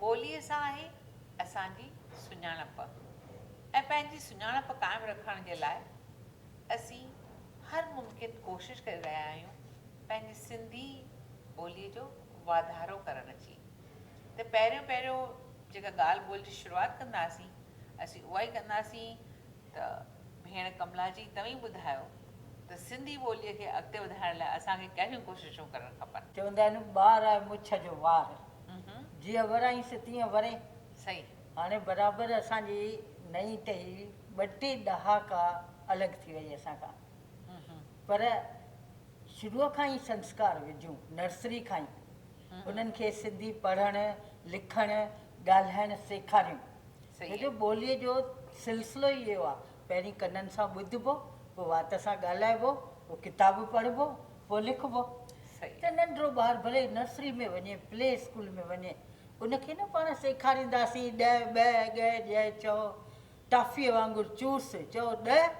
ٻوليء سان آهي اسان جي سڃاڻپ ۽ پنهنجي سڃاڻپ قائم رکڻ جي لاء اسين هر ممڪن ڪوشش ڪري رهيا آهيون پنهنجي سنڌي ٻوليء جو واڌارو ڪرڻ جي ته پهريون پهريون جيڪا ڳالهه ٻولهه جي شروعات ڪنداسين اسين اهائي ڪنداسين ته ڀيڻ ڪملا جي توهين ٻڌايو ته سنڌي ٻولي کي اڳتي وڌائڻ لاء اسان کي ڪهڙيون ڪوششون ڪرڻ کپن. چوندا آهن ٻار آهي مڇ جو وار جيئن ورائينس تيئن وري. صحيح. هاڻي برابر اسان جي نئين ٽهي ٻه ٽي ڏهاڪا الڳ ٿي وئي اسان کان پر شروع کان ئي سنسڪار وجهون نرسري کان ئي انهن کي سنڌي پڙهڻ لکڻ ڳالهائڻ سيکاريون سيد. جو ٻوليء جو سلسلو ئي اهو آهي، پهرين ڪنن سان ٻڌبو، پوء وات سان ڳالهائبو، پوء ڪتاب پڙهبو، پوء لکبو. سيد. ته ننڍڙو ٻار ڀلي نرسري ۾ وڃي، پلي اسڪول ۾ وڃي، ان کي نه پاڻ سيکارينداسين، ڏهه، ٻهه، ڳهه، ڄئه، چئو، ٽافيء وانگر چوس، چئو، ڏهه،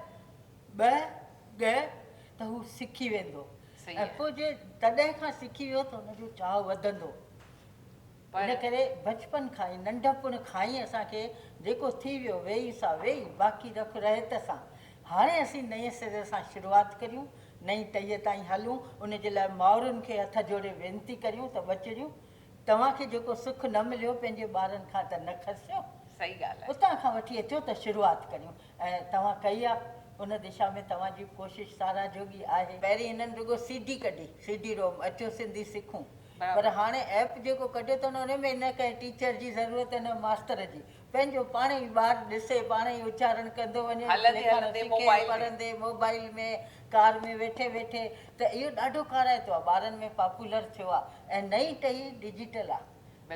ٻهه، ڳهه، ته هو سکي ويندو. سيد. ۽ پوء جي تڏهن کان سکي ويو ته ان جو چاهه وڌندو. ان ڪري بچپن کان ئي، ننڍپڻ کان ئي اسان کي جيڪو ٿي ويو، ويئي سا ويئي، باقي رک رهيت سان. هاڻي اسين نئين سري سان شروعات ڪريون، نئين ٽهيء تائين هلون، ان جي لاء مائرن کي هٿ جوڙي وينتي ڪريون ته ٻچڙيون، توهان کي جيڪو سک نه مليو، پنهنجي ٻارن کان ته نه کسيو. صحيح ڳالهه آهي. اتان کان وٺي اچو ته شروعات ڪريون ۽ توهان ڪئي آ، ان دشا ۾ توهان جي ڪوشش ساراهه جوڳي آهي. پهرين هنن رڳو سي ڊي ڪڍي، سي ڊي روم، اچو سنڌي سکون. پر هاڻي ايپ جيڪو ڪڍيو اٿن ان ۾ نه ڪنهن ٽيچر جي ضرورت نه ماستر جي پنهنجو پاڻ ئي ٻار ڏسي پاڻ ئي اچارڻ ڪندو وڃي لکڻ سکي پڙهندي موبائل ۾ ڪار ۾ ويٺي ويٺي ته اهو ڏاڍو ڪارائتو آ ٻارن ۾ پاپولر ٿيو آ ۽ نئين ٽهي ڊجيٽل آ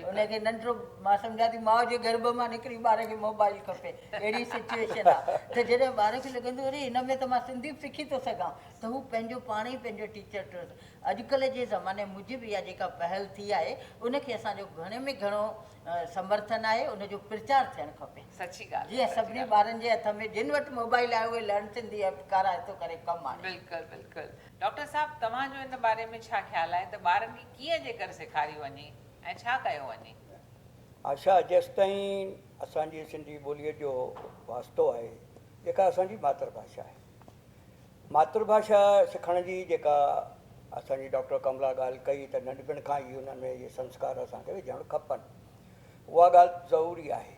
ان کي ننڍڙو مان سمجهان ٿي ماء جي گرڀ مان نڪري ٻار کي موبائل کپي اهڙي سچوئيشن آ ته جڏهن ٻار کي لڳندو اري ان ۾ ته مان سنڌي به سکي ٿو سگهان ته هو پنهنجو پاڻ ئي پنهنجو ٽيچر ٽو اڄڪلهه جي زماني موجب اها جيڪا پهل ٿي آهي ان کي اسان جو گهڻي ۾ گهڻو سمرٿن آهي ان جو پرچار ٿيڻ کپي سچي ڳالهه جيئن سچي سڀني ڳالهه ٻارن جي هٿ ۾ جن وٽ موبائل آهي اهي لرن سنڌي ايپ ڪارائتو ڪري ڪم آڻين. بلڪل بلڪل ڊاڪٽر صاحب توهان جو ان باري ۾ ڇا خيال آهي ته ٻارن کي ڪيئن جيڪر سيکاريو وڃي ۽ ڇا ڪيو وڃي. آشا جيستائين اسان جي سنڌي ٻوليء جو واسطو آهي جيڪا اسان جي ماتر ڀاشا آهي ماترڀاشا سکڻ جي جيڪا اسان جي ڊاڪٽر ڪملا ڳالهه ڪئي ته ننڍپڻ کان ئي انهن ۾ اهي سنسڪار اسان کي وجهڻ کپن اها ڳالهه ضروري آهي.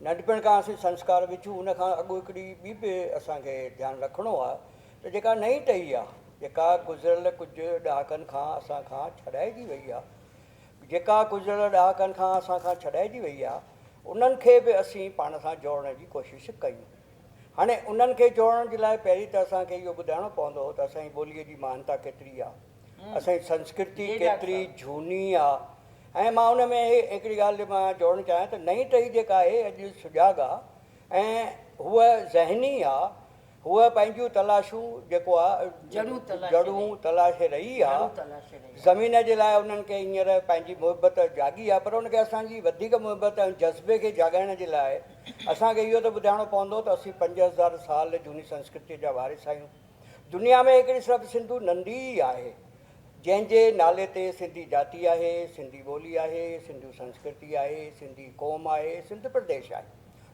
ننڍپڻ کان اسين سنسڪار وجهون ان کان اڳ هڪڙي ٻي به اسان کي ڌيان رکڻو آهي ته جيڪا نئين ٽهي آهي جيڪا گذريل ڪجهه ڏهاڪن کان اسان کان ڇڏائجي وئي آهي جيڪا گذريل ڏهاڪن کان اسان کان ڇڏائجي وئي آهي انهن کي به اسين پاڻ سان جوڙڻ جي ڪوشش ڪيون. هاڻي انهن کي جوڙڻ جي لاء پهرين ته اسان کي اهو ٻڌائڻو پوندو ته اسان جي ٻوليء جي مهانتا ڪيتري آ، اسان جي سنسڪرتي ڪيتري جهوني آ ۽ مان ان ۾ هڪڙي ڳالهه جي مان جوڙڻ چاهيان ته نئين ٽهي جيڪا آهي اڄ سجاڳ آ ۽ هوء ذهني آ، هوء پنهنجيون تلاشون جيڪو آ جڙون تلاشي رهي آ، زمين جي لاء انهن کي هينئر پنهنجي محبت جاڳي آ پر ان کي اسان جي وڌيڪ محبت ۽ جذبي کي جاڳائڻ جي لاء اسان کي اهو ته ٻڌائڻو پوندو ته اسين پنج هزار سال جهوني سنسڪرتيء جا وارث آهيون. دنيا ۾ هڪڙي صرف سنڌو نندي ئي آهي، جنهن جي نالي تي سنڌي جاتي آهي، سنڌي ٻولي آهي، سنڌو سنسڪرتي آهي، سنڌي قوم آهي، سنڌ پرديش آهي.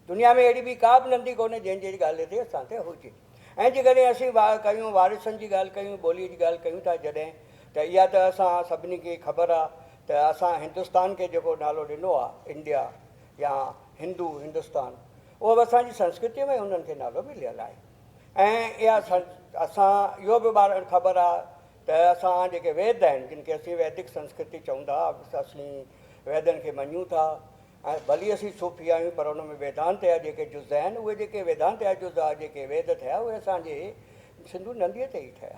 دنيا ۾ اهڙي ٻي ڪا به نندي ڪونهي جنهن جي ڳالهه تي اسان تي هجي. ۽ جيڪڏهن اسين ڪيون وارثن جي ڳالهه ڪيون، ٻوليء جي ڳالهه ڪيون ٿا جڏهن ته اها ته اسان سڀني کي خبر آهي ته اسان هندستان کي جيڪو نالو ڏنو آهي انڊيا يا هندو هندستان اهو به اسان جي سنسڪرتيء ۾ انهن کي نالو مليل آهي ۽ اها اسان اهو به ٻارڙن خبر آهي ته اسان جيڪي ويد آهن جن کي اسين ويدڪ سنسڪرتي چئون ٿا اسين ويدن کي مڃون ٿا ۽ ڀلي اسين صوفي آهيون پر ان ۾ ويدانت جا جيڪي جز آهن اهي جيڪي ويدانت جا جز آهي جيڪي ويد ٿيا اهي اسان جي سنڌو نديء تي ئي ٺهيا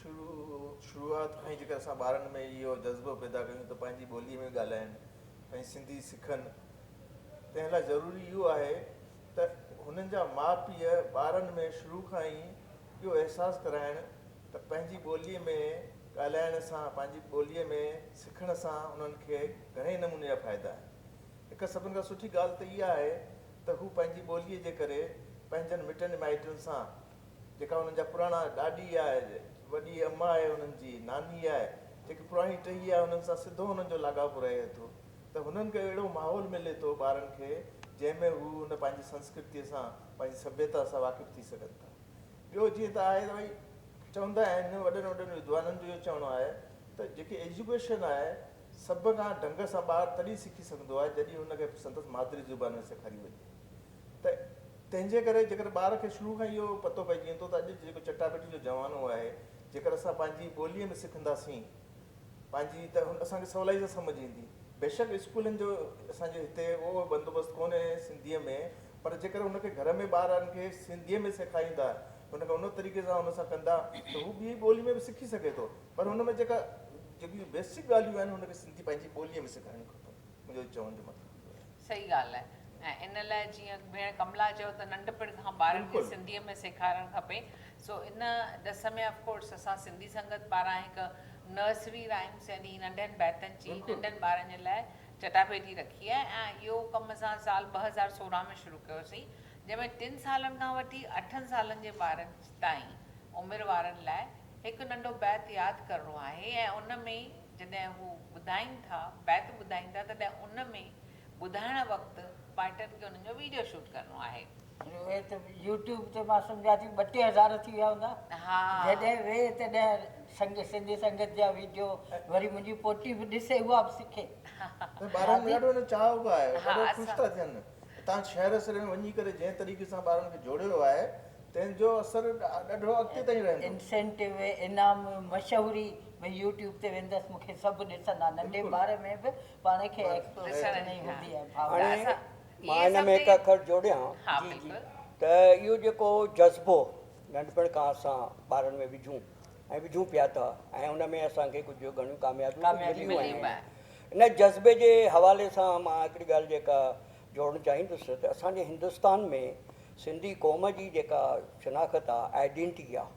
شروع شروعات کان ئي جيڪر اسان ٻارن ۾ اهو جذبو پيدا ڪيون ته پنهنجي ٻوليء ۾ ڳالهائن ۽ سنڌي سکن تنهن لاء ضروري اهو آهي ته هنن جا ماء پيء ٻارن ۾ شروع کان ئي اهو احساس ڪرائن ته پنهنجي ٻوليء ۾ ڳالهائڻ سان پنهنجي ٻوليء ۾ سکڻ سان انهن کي گهڻي نموني جا فائدا آهن هڪ سڀن کان سٺي ڳالهه ته اها آهي ته هو پنهنجي ٻوليء جي ڪري پنهنجن مٽن مائٽن سان جيڪا انهن جا پراڻا ڏاڏي آهي، وڏي اما آهي انهن جي ناني آهي، جيڪي پراڻي ٽهي آهي انهن سان سڌو انهن جو لاڳاپو رهي ٿو ته هنن کي اهڙو ماحول ملي ٿو ٻارن کي جنهن ۾ هو ان پنهنجي سنسڪرتي سان پنهنجي سڀيتا سان واقف ٿي سگهن ٿا ٻيو جيئن ته آهي ته ڀئي چوندا آهن وڏن وڏن ودوانن جو اهو چوڻو آهي ته جيڪي ايجوڪيشن آهي سڀ کان ڍنگ سان ٻار تڏهن سکي سگهندو آهي جڏهن هن کي سندس مادري زبان ۾ سيکاري وڃي ته تنهن جي ڪري جيڪڏهن ٻار کي شروع کان اهو پتو پئجي ويندو ته اڄ جو جيڪو چٽاڀيٽي جو زمانو آهي، جيڪڏهن اسان پنهنجي ٻوليء ۾ سکنداسين پنهنجي ته اسان کي سولائيء سان سمجهه ايندي. بيشڪ اسڪولن جو اسان جي هتي اهو بندوبست ڪونهي سنڌيء ۾ پر جيڪڏهن ان کي گهر ۾ ٻارن کي سنڌيء ۾ سيکاريندا، ان کي ان طريقي سان ان سان ڪندا ته هو ٻيء ٻوليء ۾ به سکي سگهي ٿو پر ان ۾ جيڪا جيڪي بيسڪ ڳالهيون آهن ان کي سنڌي پنهنجي ٻوليء ۾ سيکارڻيون کپن. منهنجو چوڻ جو مطلب اهو آهي. صحيح ڳالهه آهي ۽ ان لاء جيئن ڀيڻ ڪملا چيو ته ننڍپڻ کان ٻارن کي سنڌيء ۾ سيکارڻ کپي سو ان ڏس ۾ آف ڪورس اسان سنڌي سنگت پاران هڪ نرسري رائمس يعني ننڍن بيتن جي ننڍن ٻارن جي لاء چٽاڀيٽي رکي آهي ۽ اهو ڪم اسان سال ٻه هزار سورهن ۾ شروع ڪيو سين جنهن ۾ ٽن سالن کان وٺي اٺن سالن جي ٻارن تائين عمر وارن لاء هڪ ننڍو بيت ياد ڪرڻو آهي ۽ ان ۾ جڏهن هو ٻڌائين ٿا، بيت ٻڌائين ٿا، تڏهن ان ۾ ٻڌائڻ وقت پارٽن کي انهن جو ويڊيو شوٽ ڪرڻو آهي. اهي ته يوٽيوب تي مان سمجهان ٿي ٻه ٽي هزار ٿي ويا هوندا. جڏهن وي تڏهن سنگهه سنڌي سنگت جا ويڊيو وري منهنجي پوٽي به ڏسي اها به سکي. ٻارن ۾ ڏاڍو هن چاهه به آهي ڏاڍو خوش ٿا ٿين تان شهر سري ۾ وڃي ڪري جنهن طريقي سان ٻارن کي جوڙيو ويو آهي تنهن جو اثر ڏاڍو اڳتي تائين رهندو. انسينٽو، انعام، مشهوري ۾ يوٽيوب تي ويندس مون کي سڀ ڏسندا ننڍي ٻار ۾ به پاڻ کي ايڪسپريسٽ نه ئي هوندي آهي ڀاء هاڻي مان هن ۾ هڪ اکر جوڙيان ته اهو جيڪو جذبو ننڍپڻ کان اسان ٻارن ۾ وجهون ۽ وجهون پيا ٿا ۽ ان ۾ اسان کي ڪجهه گهڻيون ڪاميابيون مليون آهن ان جذبي جي حوالي سان مان هڪڙي ڳالهه جيڪا جوڙڻ چاهيندس ته اسان جي هندستان ۾ سنڌي قوم جي جيڪا شناخت آهي آئيڊينٽي آهي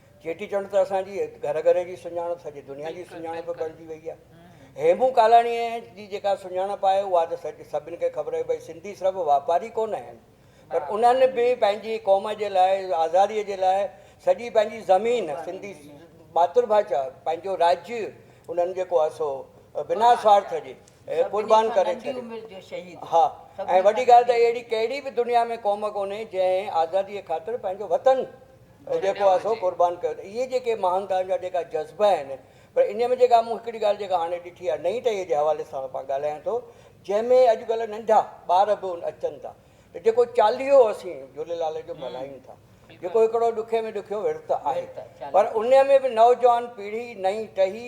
چيٽي چنڊ ته اسان جي گهر گهر جي سڃاڻپ سڄي دنيا جي سڃاڻپ بڻجي وئي آهي. هيمون ڪالاڻيء جي جيڪا سڃاڻپ آهي اها ته سڄي سڀن کي خبر آهي ڀئي سنڌي صرف واپاري ڪونه آهن پر انهن به پنهنجي قوم جي لاء آزاديء جي لاء سڄي پنهنجي زمين سنڌي ماترڀاشا پنهنجو راڄ انهن جيڪو آهي سو بنا سوارٿ جي قربان ڪري ڇڏيو ها ۽ وڏي ڳالهه ته اهڙي ڪهڙي به دنيا ۾ قوم ڪونهي جنهن آزاديء خاطر پنهنجو وطن جيڪو آهي سو قربان ڪيو ته اهي جيڪي مهانتائن جا جيڪا جذبا آهن پر انهيء ۾ جيڪا مون هڪڙي ڳالهه جيڪا هاڻي ڏٺي آهي نئين ٽهيء جي حوالي سان مان ڳالهايان ٿو جنهن ۾ اڄڪلهه ننڍا ٻار به ان اچن ٿا ته جيڪو چاليهو اسين جهوليلال جو ملهايون ٿا جيڪو هڪڙو ڏکي ۾ ڏکيو ورت آهي پر انهيء ۾ به نوجوان پيڙهي نئين ٽهي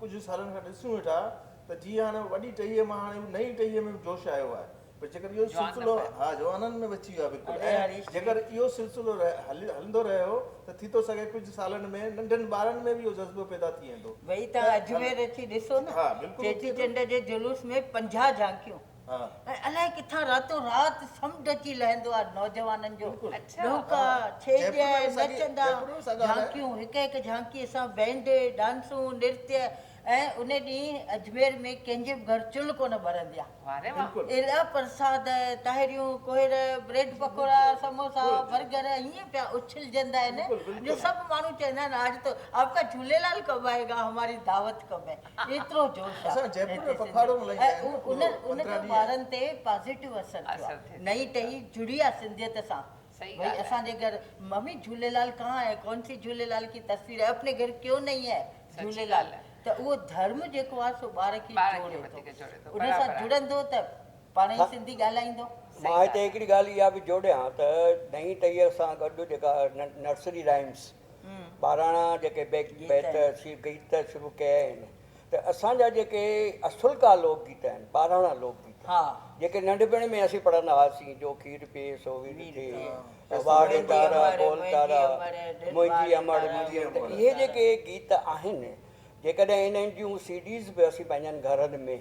ڪجهه سالن کان ڏسون ويٺا ته جيئن هاڻي وڏي ٽهيء مان هاڻي اهو نئين ٽهيء ۾ به جوش آيو آهي پر جيڪر اهو سلسلو ها جوانن ۾ به اچي ويو آهي بلڪل ۽ جيڪر اهو سلسلو هلندو رهيو ته ٿي ٿو سگهي ڪجهه سالن ۾ ننڍن ٻارن ۾ به اهو جذبو پيدا ٿي ويندو. ويئي توهان اجمير اچي ڏسو نه چيٽي چنڊ جي جلوس ۾ پنجاهه جهانڪيون. ۽ الائي ڪٿان راتو رات سمنڊ اچي لهندو آهي نوجوانن جو ڏونڪا، ڇيڄ، نچندا، جھانڪيون، هڪ هڪ جھانڪيء سان بينڊ، ڊانسون، نرتي ۽ ان ڏينهن اجمير ۾ ڪنهن جي به گهر چلهه ڪونه ٻرندي آهي. الائي پرساد، تاهريون، ڪوهير، بريڊ پڪوڙا، سموسا، برگر ائين پيا اڇلجندا آهن جو سڀ ماڻهو چوندا آهن آج تو آپڪا جھوليلال ڪب آئي گا، هماري دعوت ڪب هي. ايترو جوش آ ۽ ان جو ٻارن تي پازيٽو اثر ٿيو آ نئي ٽهي جڙي آ سنڌيت سان ڀئي اسان جي گهر ممي جهوليلال ڪهان هي ڪون سي جهوليلال ڪي تصوير هي اپني گهر ڪيون نهي هي جهوليلال ته اهو ڌرم جيڪو آ سو ٻار کي جوڙي ٿو ان سان جڙندو ته پاڻهي ئي سنڌي ڳالهائيندو. مان هتي هڪڙي ڳالهه اها به جوڙيان ته نئي ٽهيء سان گڏ جيڪا نرسري رائمس. ٻاراڻا جيڪي بيت سي گيت شروع ڪيا آهن ته اسان جا جيڪي اصلڪا لوڪ گيت آهن ٻاراڻا لوڪ گيت جيڪي ننڍپڻ ۾ اسين پڙهندا هئاسين جو کير پي سو وير ٿي واڙ تارا بول تارا منهنجي امڙ اهي جيڪي گيت آهن جيڪڏهن انهن جون سي ڊيز به اسين پنهنجن گهرن ۾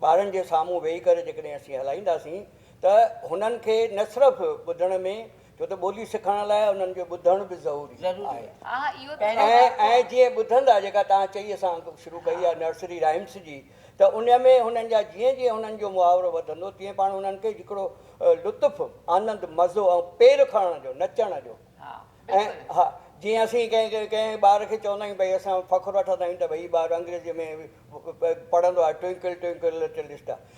ٻارن جي سامهون ويهي ڪري جيڪڏهن اسين هلائينداسين ته هنن کي نه صرف ٻڌڻ ۾ ڇو ته ٻولي سکڻ لاء انهن کي ٻڌڻ به ضروري آهي ۽ جيئن ٻڌندا جيڪا توهان چئي اسان شروع ڪئي آهي نرسري رائمس جي ته ان ۾ هنن جا جيئن جيئن هنن جو محاورو وڌندو تيئن پاڻ انهن کي هڪڙو لطف آنند مزو ۽ پير کڻڻ جو نچڻ جو ۽ ها جيئن اسين ڪنهن ڪنهن ڪنهن ٻار کي چوندا آهيون ڀئي اسان فخر وٺندا آهيون ته ڀئي هي ٻار انگريزيء ۾ پڙهندو آهي ٽوئنڪل ٽوئنڪل لٽل اسٽار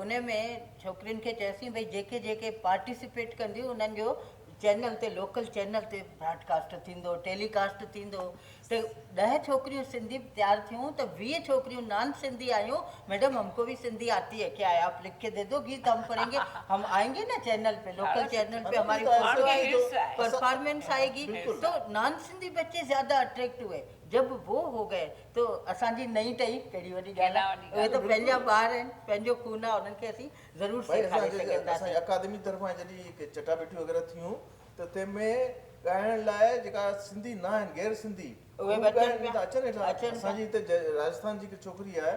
ان ۾ ڇوڪرين کي چيوسين ڀئي جيڪي جيڪي پارٽيسپيٽ ڪنديون انهن جو چينل تي لوڪل چينل تي براڊ ڪاسٽ ٿيندو ٽيلي ڪاسٽ ٿيندو ته ڏهه ڇوڪريون سنڌي تيار ٿيون ته ويهه ڇوڪريون نان سنڌي آيون ميڊم هم ڪو به سنڌي آتي هي ڪيا هي آپ لک ڪي ديدو گيت هم پڙهين گي هم آئين گي نه چينل پي لوڪل چينل پي هماري فوٽو آئي گي پرفارمنس آئي گي تو نان سنڌي بچي زياده اٽريڪٽ هئي جب وو هو گئي ته اسان جي نئين ٽهي ڪهڙي وڏي ڳالهه آهي اهي ته پنهنجا ٻار آهن پنهنجو خون آهي انهن کي اسين ضرور سيکاري سگهنداسين. اسان جي اڪادمي طرفان جڏهن هي چٽا ڀيٽيون وغيره ٿيون ته تنهن ۾ ڳائڻ لاء جيڪا سنڌي نه آهن غير سنڌي اهي به اچن پيا اچن هيٺان اسان جي هتي راجسٿان جي هڪ ڇوڪري آهي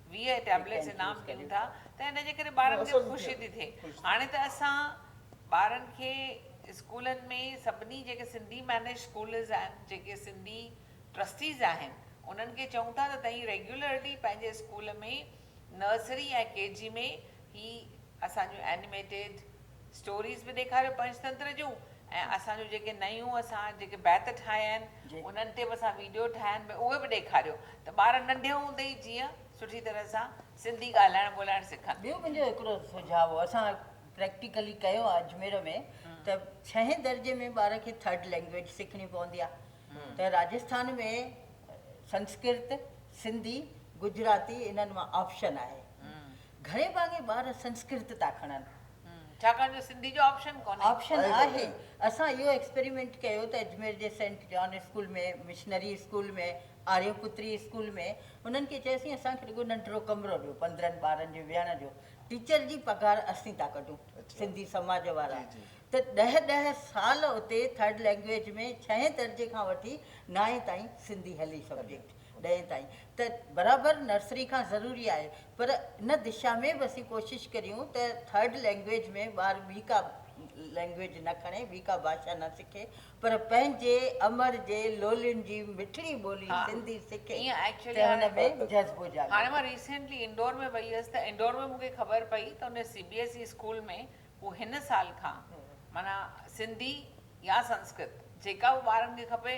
ويهه ٽيبليٽس انعام ڏيون ٿا ته ان جي ڪري ٻارن کي خوشي ٿي ٿئي هاڻي ته اسان ٻارن کي اسڪولن ۾ سڀني جيڪي سنڌي مينيج اسڪولز آهن جيڪي سنڌي ٽرسٽيز آهن انهن کي چئون ٿا ته تهين ريگيولرلي پنهنجي اسڪول ۾ نرسري ۽ ڪي جي ۾ هي اسان جون اينيميٽيڊ اسٽوريز به ڏيکاريو پنچتنتر جون ۽ اسان جون جيڪي نيون اسان جيڪي بيت ٺاهيا آهن انهن تي به اسان ويڊيو ٺاهيا آهن ڀي اهي به ڏيکاريو ته ٻار ننڍي هوندي ئي جيئن سٺي طرح سان سنڌي ڳالهائڻ ٻولهائڻ سکن. ٻيو منهنجو هڪڙو سجهاء هو اسان پريڪٽيڪلي ڪيو آهي اجمير ۾ ته ڇهين درجي ۾ ٻار کي ٿرڊ لينگويج سکڻي پوندي آهي ته راجسٿان ۾ سنسڪرت، سنڌي، گجراتي انهن مان آپشن آهي گهڻي ڀاڱي ٻار سنسڪرت ٿا کڻن. ڇاڪاڻ جو سنڌي جو آپشن ڪونهي. آپشن آهي. اسان اهو ايڪسپريمينٽ ڪيو ته اجمير جي saint John school ۾ missionary school ۾ Arya Putri school ۾ انهن کي چياسين اسان کي رڳو ننڍڙو ڪمرو ڏيو پندرهن ٻارن جي ويهڻ جو ٽيچر جي پگهار اسين ٿا ڪڍون سنڌي سماج وارا ته ڏهه ڏهه سال اتي ٿرڊ لينگويج ۾ ڇهين درجي کان وٺي نائين تائين سنڌي هلي سبجيڪٽ ڏهين تائين ته برابر نرسري کان ضروري آهي پر ان دشا ۾ به اسين ڪوشش ڪريون ته ٿرڊ لينگويج ۾ ٻار ٻي ڪا لينگويج نه کڻي ٻي ڪا ڀاشا نه سکي پر پنهنجي امڙ جي لولين جي مٺڙي ٻولي سنڌي سکي ته ان ۾ جذبو جاڳي. هاڻي مان ريسينٽلي انڊور ۾ وئي هيس ته انڊور ۾ مون کي خبر پئي ته ان C B S E school ۾ هو هن سال کان معنيٰ سنڌي يا سنسڪرت جيڪا به ٻارن کي کپي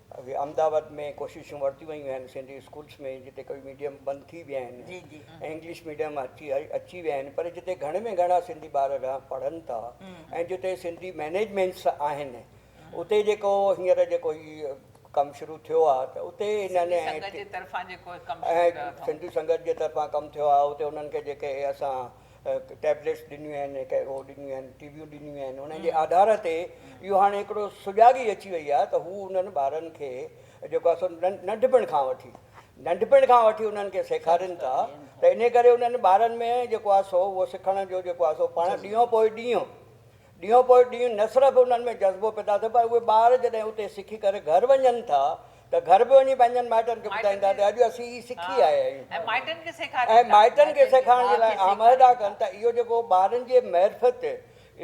اڳي احمدآباد ۾ ڪوششون ورتيون ويون آهن سنڌي اسڪولس ۾ جتي ڪوي ميڊيم بند ٿي ويا آهن ۽ انگلش ميڊيم اچي اچي ويا آهن پر جتي گهڻ ۾ گهڻا سنڌي ٻار رهن پڙهن ٿا ۽ جتي سنڌي مينيجمينٽس آهن اتي جيڪو هينئر جيڪو هي ڪم شروع ٿيو آهي ته اتي هنن سنڌي سنگت جي طرفان ڪم ٿيو آهي اتي هنن کي جيڪي اسان ٽيبليٽس ڏنيون آهن هڪ اهو ڏنيون آهن ٽي ويون ڏنيون آهن انهن جي آڌار تي اهو هاڻي هڪڙو سجاڳي اچي وئي آهي ته هو انهن ٻارن کي جيڪو آهي سو ننڍپڻ کان وٺي ننڍپڻ کان وٺي انهن کي سيکارين ٿا ته ان ڪري انهن ٻارن ۾ جيڪو آهي سو اهو سکڻ جو جيڪو آهي سو پاڻ ڏينهون پوء ڏينهون ڏينهون پوء ڏينهن نه صرف انهن ۾ جذبو پيدا ٿئي پر اهي ٻار جڏهن اتي سکي ڪري گهر وڃن ٿا ته گهر به وڃي پنهنجن مائٽن کي ٻڌائين ٿا ته اڄ اسين هي سکي آيا آهيون ۽ مائٽن کي سيکارين ٿا ۽ مائٽن کي سيکارڻ جي لاء آمهدا ڪن ٿا اهو جيڪو ٻارن جي معرفت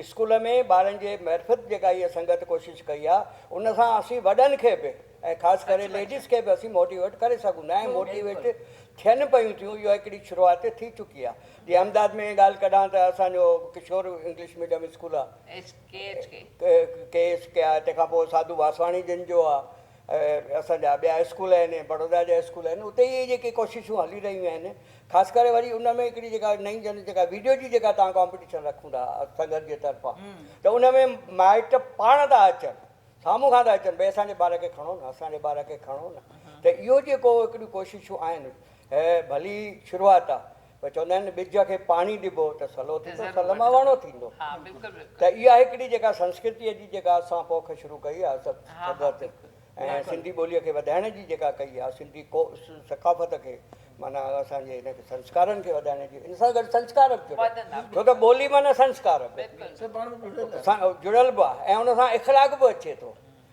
اسڪول ۾ ٻارن جي معرفت جيڪا هيء سنگت ڪوشش ڪئي آهي ان سان اسين وڏن کي به ۽ خاص ڪري ليڊيز کي به اسين موٽيويٽ ڪري سگهون ٿا ۽ موٽيويٽ ٿين پيون ٿيون اها هڪڙي شروعات ٿي چڪي آهي. جي امداد ۾ ڳالهه ڪڍان ته اسان جو ڪشور انگلش ميڊيم اسڪول آ ڪي ايس ڪي آ تنهن کان پوء ساڌو واسواڻي جن جو آ اسان جا ٻيا اسڪول آهن بڙودا جا اسڪول آهن اتي اهي جيڪي ڪوششون هلي رهيون آهن خاص ڪري وري ان ۾ هڪڙي جيڪا نئين جن جيڪا ويڊيو جي جيڪا تان ڪامپيٽيشن رکون ٿا سنگت جي طرفان ته ان ۾ مائٽ پاڻ ٿا اچن سامهون کان ٿا اچن ڀائی اسان جي ٻار کي کڻو نه اسان جي ٻار کي کڻو نه ته اهو جيڪو هڪڙيون ڪوششون آهن هيء ڀلي شروعات آ پر چوندا آهن ٻج کي پاڻي ڏبو ته سلو ٿيندو سل مان وڻ ٿيندو ته اها هڪڙي جيڪا سنسڪرتيء جي جيڪا اسان پوک شروع ڪئي آ سگت ۽ سنڌي ٻوليء کي وڌائڻ جي جيڪا ڪئي آ سنڌي ثقافت کي معنيٰ اسان جي هن کي سنسڪارن کي وڌائڻ جي ان سان گڏ سنسڪار به جڙيا ڇو ته ٻولي معنيٰ سنسڪار به جڙيل به آ ۽ ان سان اخلاق به اچي ٿو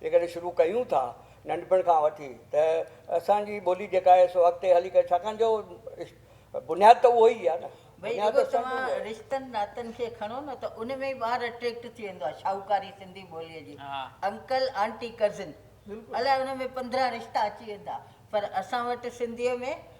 جيڪڏهن شروع ڪيون ٿا ننڍپڻ کان وٺي ته اسان جي ٻولي جيڪا آهي سو اڳتي هلي ڪري ڇاڪاڻ جو بنياد ته اهو ئي آهي نه. ڀئي رڳو توهان رشتن ناتن کي کڻو نه ته ان ۾ ئي ٻار اٽريڪٽ ٿي ويندو آهي شاهوڪاري سنڌي ٻوليء جي انڪل آنٽي ڪزن الائي ان ۾ پندرهن رشتا اچي ويندا پر اسان وٽ سنڌيء ۾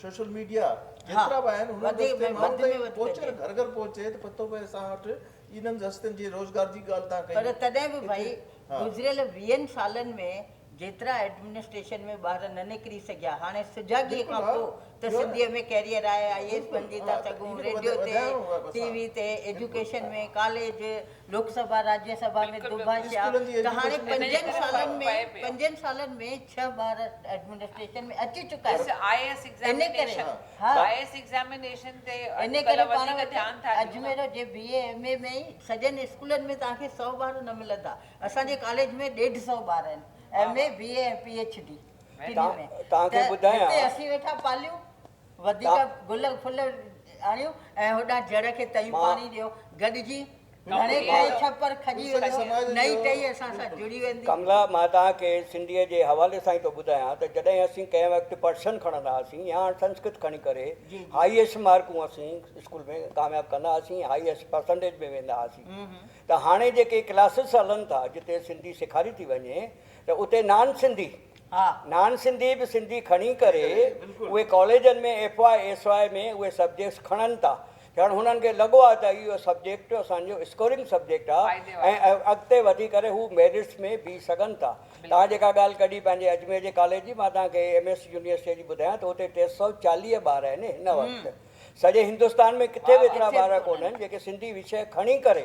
سوشل ميڊيا جيترا به آهن انهن رستي ماڻهن تائين پهچي نه گهر گهر پهچي ته پتو پئي اسان وٽ انهن رستن جي روزگار جي ڳالهه تان ڪئي پر تڏهن به ڀائي گذريل ويهن سالن ۾ جيترا ايڊمنسٽريشن ۾ ٻار نه نڪري سگهيا هاڻي سجاڳي کان پوء ته سنڌي ۾ ڪيريئر آهي آئي اي ايس بنجي ٿا سگهون ريڊيو تي ٽي وي تي ايجوڪيشن ۾ ڪاليج لوڪ سڀا، راجيه سڀا ۾ دوڀاشا ته هاڻي پنجن سالن ۾ پنجن سالن ۾ ڇهه ٻار ايڊمنسٽريشن ۾ اچي چڪا آهن. I S examination I S examination تي اڄ ڪلهه وڌيڪ ڌيان ٿا ڏيون نه. اجمير جي بي اي ايم اي ۾ ئي سڄن اسڪولن ۾ توهان کي سؤ ٻار نه ملندا. اسان جي ڪاليج ۾ ڏيڍ سؤ ٻار آهن M A B A ۽ P H D ٽنهي ۾ ته هتي اسين ويٺا پاليون. وڌيڪ گل ڦل آڻيو ۽ هوڏانهن جڙ کي تيون پاڻي ڏيو. گڏجي گهڻي ڪري ڇپر کڄي ويندو. نئين ٽهي اسان سان جڙي ويندي. ڪملا، مان توهان کي سنڌيء جي حوالي سان ئي ٿو ٻڌايان ته جڏهن اسين ڪنهن وقت پرشن کڻندا هئاسين يا هاڻ سنسڪرت کڻي ڪري هائيئسٽ مارڪون اسين اسڪول ۾ ڪامياب ڪندا هئاسين، هائيئسٽ پرسنٽيج ۾ ويندا هئاسين ته هاڻي جيڪي ڪلاسز هلن ٿا جتي سنڌي سيکاري ٿي وڃي ته اتي نان سنڌي، نان سنڌي به سنڌي کڻي ڪري اهي ڪاليجن ۾ ايف واء ايس واء ۾ اهي سبجيڪٽس کڻن ٿا ڄڻ هنن کي لڳو آهي ته اهو سبجيڪٽ اسان جو اسڪورنگ سبجيڪٽ آهي ۽ اڳتي وڌي ڪري هو ميرٽس ۾ بيهي سگهن ٿا توهان جيڪا ڳالهه ڪڍي پنهنجي اجمير جي ڪاليج جي مان توهان کي ايم ايس يونيورسٽي جي ٻڌايان ته اتي ٽي سؤ چاليهه ٻار آهن هن وقت سڄي هندستان ۾ ڪٿي به ايترا ٻار ڪونهن جيڪي سنڌي وشيه کڻي ڪري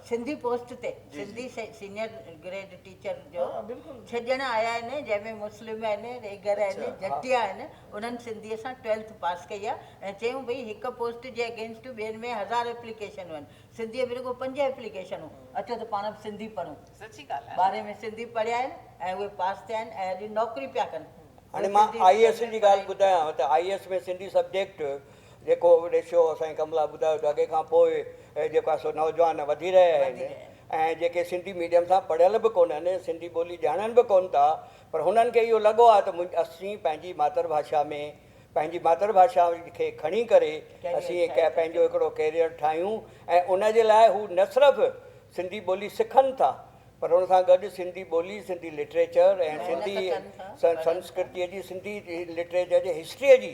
سنڌي پوسٽ تي سنڌي سينئر گريڊ ٽيچر جو ڇڄڻ آيا آهن جنهن ۾ مسلم آهن، ريگر آهن، جٽيا آهن انهن سنڌي سان ٽويلٿ پاس ڪئي آهي ۽ چيون ڀئي هڪ پوسٽ جي اگينسٽ ٻين ۾ هزار ايپليڪيشنون آهن سنڌي ۾ رڳو پنج ايپليڪيشنون اچو ته پاڻ به سنڌي پڙهون ٻارهين ۾ سنڌي پڙهيا آهن ۽ اهي پاس ٿيا آهن ۽ اڄ نوڪري پيا ڪن. هاڻي مان آئي ايس جي ڳالهه ٻڌايانو ته آئي ايس ۾ سنڌي سبجيڪٽ جيڪو ريشيو سائين ڪملا ٻڌايو ته اڳي کان پوء جيڪو آهي سو نوجوان وڌي رهيا آهن ۽ جيڪي سنڌي ميڊيم سان پڙهيل به ڪونهن، سنڌي ٻولي ڄاڻن به ڪونه ٿا پر هنن کي اهو لڳو آهي ته اسين پنهنجي ماتر ڀاشا ۾ پنهنجي ماتر ڀاشا کي کڻي ڪري اسين پنهنجو هڪڙو ڪيريئر ٺاهيون ۽ ان جي لاء هو نه صرف سنڌي ٻولي سکن ٿا پر ان سان گڏ سنڌي ٻولي، سنڌي لٽريچر ۽ سنڌي سنسڪرتيء جي، سنڌي لٽريچر جي هسٽريء جي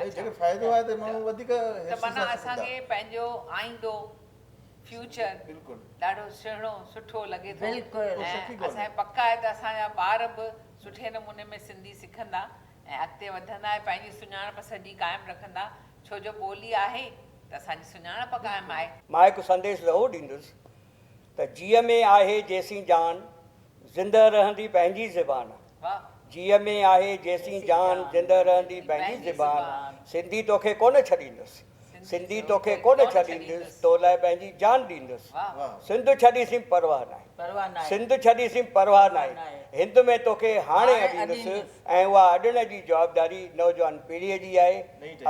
۽ جيڪڏهن فائدو آهي ته ماڻهو وڌيڪ حرصي سان سکندا. ته معنيٰ اسان کي پنهنجو آئيندو، Future، ڏاڍو سهڻو، سٺو لڳي ٿو ۽ اسان کي پڪ آهي ته اسان جا ٻار به سٺي نموني ۾ سنڌي سکندا ۽ اڳتي وڌندا ۽ پنهنجي سڃاڻپ سڄي قائم رکندا ڇو جو ٻولي آهي ته اسان جي سڃاڻپ قائم آهي. مان هڪ سنديش زهو ڏيندس ته جيء ۾ آهي جيسين جان، زندهه رهندي پنهنجي زبان. جيء ۾ آهي جيسين جان، زندهه رهندي پنهنجي زبان. سنڌي توکي ڪونه ڇڏيندس، سنڌي توکي ڪونه ڇڏيندس، تو لاء پنهنجي جان ڏيندس. سنڌ ڇڏي سين پرواهه ناهي، سنڌ ڇڏي سين پرواهه ناهي، هند ۾ توکي هاڻي اڏيندس ۽ اها اڏڻ جي جوابداري نوجوان پيڙهيء جي آهي،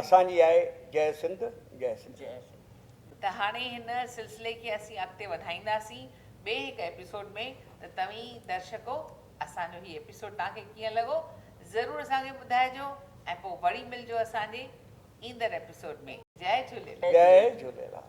اسان جي آهي، جئه سنڌ، جئه سنڌ. ته هاڻي هن سلسلي کي اسين اڳتي وڌائينداسين ٻئي هڪ ايپيسوڊ ۾ ته توهين درشڪو اسان جو هي ايپيسوڊ توهان کي ڪيئن لڳو ضرور اسان کي ٻڌائجو ۽ پوء وري ملجو اسان جي ايندڙ ايپيسوڊ ۾ جئي جهوليلال. جئي جهوليلال.